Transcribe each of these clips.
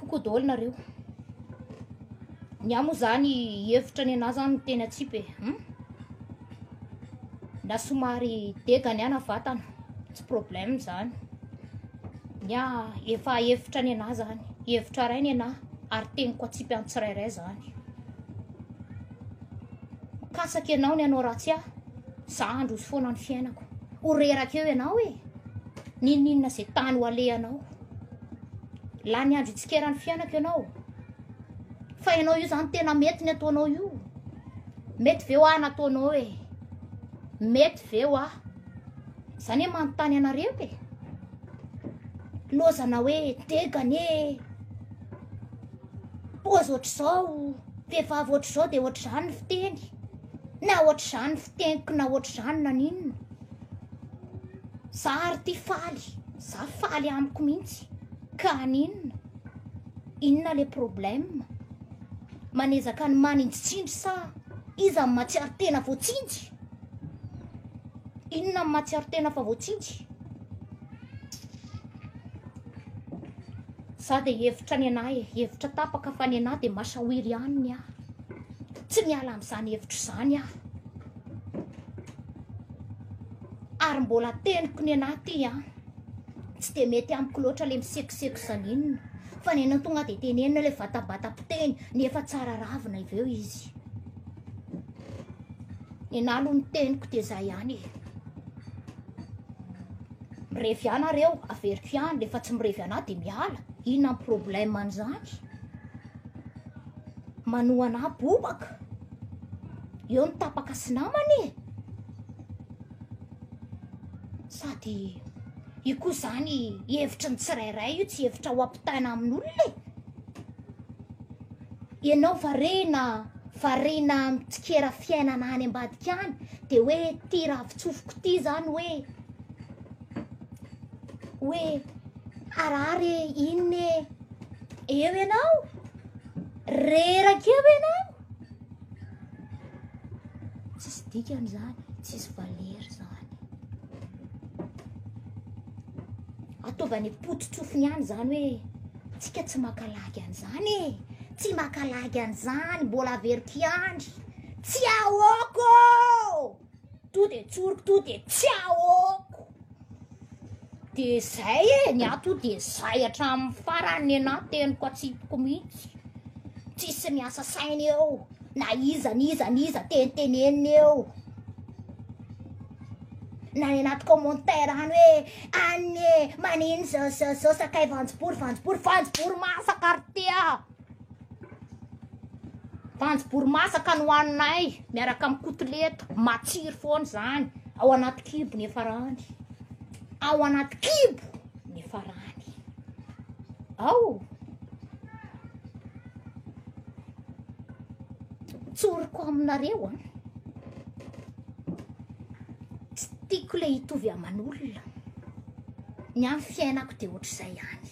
Coucou daholo nareo. Ny ahy moa zany hevitra ny anah zany teny atsipy e. Hmm? Na somary dega ny ana vatana, tsy problème zany. Ny ahy efa hevitra ny anah zany, hevitra ray ny anah ary teniko atsipy antsirairay zany. Kasaky ianao ny hanao ratsy ahy, za handroso foana ny fiainako. Ho reraka eo ianao e, n'inon'inona izay tany ho alehanao. Lany andro itsikeran'ny fiainako ianao. Fa ianao io zany tena mety ny ataonao io. Mety ve ho ahy nataonao e? Mety ve ho ahy? Zany e manontany anareo e. Lozana hoe degane. Pozy ohatr'izao. Vehivavy ohatr'izao dia ohatr'izany ny fiteny, na ohatr'izany ny fiteniko na ohatr'izany naninona. Za ary ty faly, za faly amiko mihitsy. Ka aninona? Inona le problème? Manezaka ny maninjitsinjo sa iza ny matsiaro tena voatsinjy? Inona ny matsiaro tena fa voatsinjy? Za dia hevitra ny anah e, hevitra tapaka fa ny anah dia masaoira ihany ny ahy. Tsy miala amin'izany hevitra izany aho. Ary mbola teniko ny anah ty an. Tsy dia mety amiko loatra le misekoseko zanina. Fa ny anah tonga dia tenenina ilay vatabata-piteny nefa tsara ravina avy eo izy. Ny anah aloha ny teniko dia izay ihany e. Mirevy ahy nareo, averiko ihany, rehefa tsy mirevy anah dia miala. Inona ny problème an'izany? Manoa anah bobaka. Eo ny tapaka sy namana e. Sady io koa izany hevitry ny tsirairay io tsy hevitra ho ampitaina amin'olona e. Ianao varina, varina mitsikera fiainana any ambadika any dia hoe ity ravitsofiko ity izany hoe hoe harary e, inona e, eo ianao, reraka eo ianao, tsisy dikany zany, tsisy valeur zany. Ataovany pototrofony ihany zany hoe tsika tsy makalagy an'izany e, tsy makalagy an'izany, mbola averiko ihany, tsy ahoako ô! to de tsoriko to de tsy aoko de zay e ny ato de zay hatramin'ny farany ny anay teniko atsipoko mihitsy tsisy miasa saina eo na iza ny iza ny iza tenitenenina eo na ny anaty commentaire any hoe any e manino zao zao zao sakay vanjibory vanjibory vanjibory masaka ry tea Voanjobory masaka no haninay miaraka amin'ny kotilety, matsiro foana izany, ao anaty kibo ny efarany, ao anaty kibo ny efarany, ao tsoriko aminareo an, tsy tiako ilay hitovy aman'olona, ny ahy ny fiainako dia ohatr'izay ihany.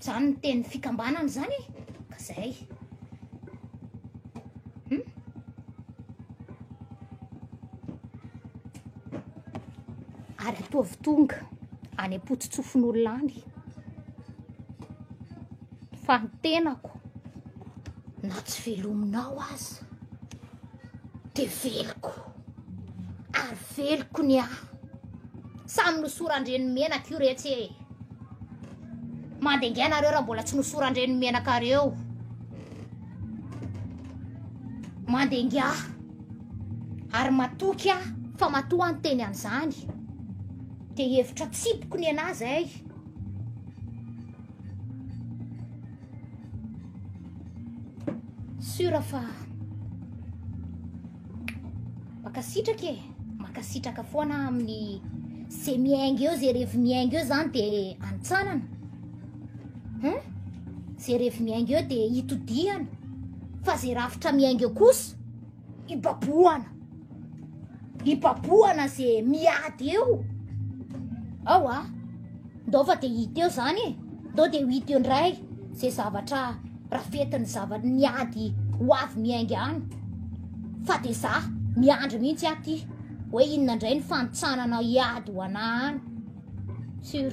Zany ny teny fikambanana zany e ka zay hmm? ary ataovy tonga any am-potsotsofin'olona any fa ny tenako na tsy velominao aza de veloko ary veloko ny ahy samy nosoran-dreniny menaka io retsy e mandengaina nareo raha mbola tsy nosoran-dreniny menaka reo mandenga ary matoky aho fa matoa ny teny an'izany de hevitra tsipoko ny anah zay Sura fa makasitraka e makasitraka foana amin'ny ze miainga eo ze revy miainga eo zany de antsanana eh? ze revy miainga eo de itodihana fa ze rafitra miainga eo kosa hibabohana hibabohana ze miady eo ao a ndao fa de hita eo zany e ndao de ho hita eo ndray ze zavatra rafetiny zavatra ny ady ho avy miainga any fa de za miandry mihitsy aty hoe inona ndray ny fanotsanana hiady ho anah any sur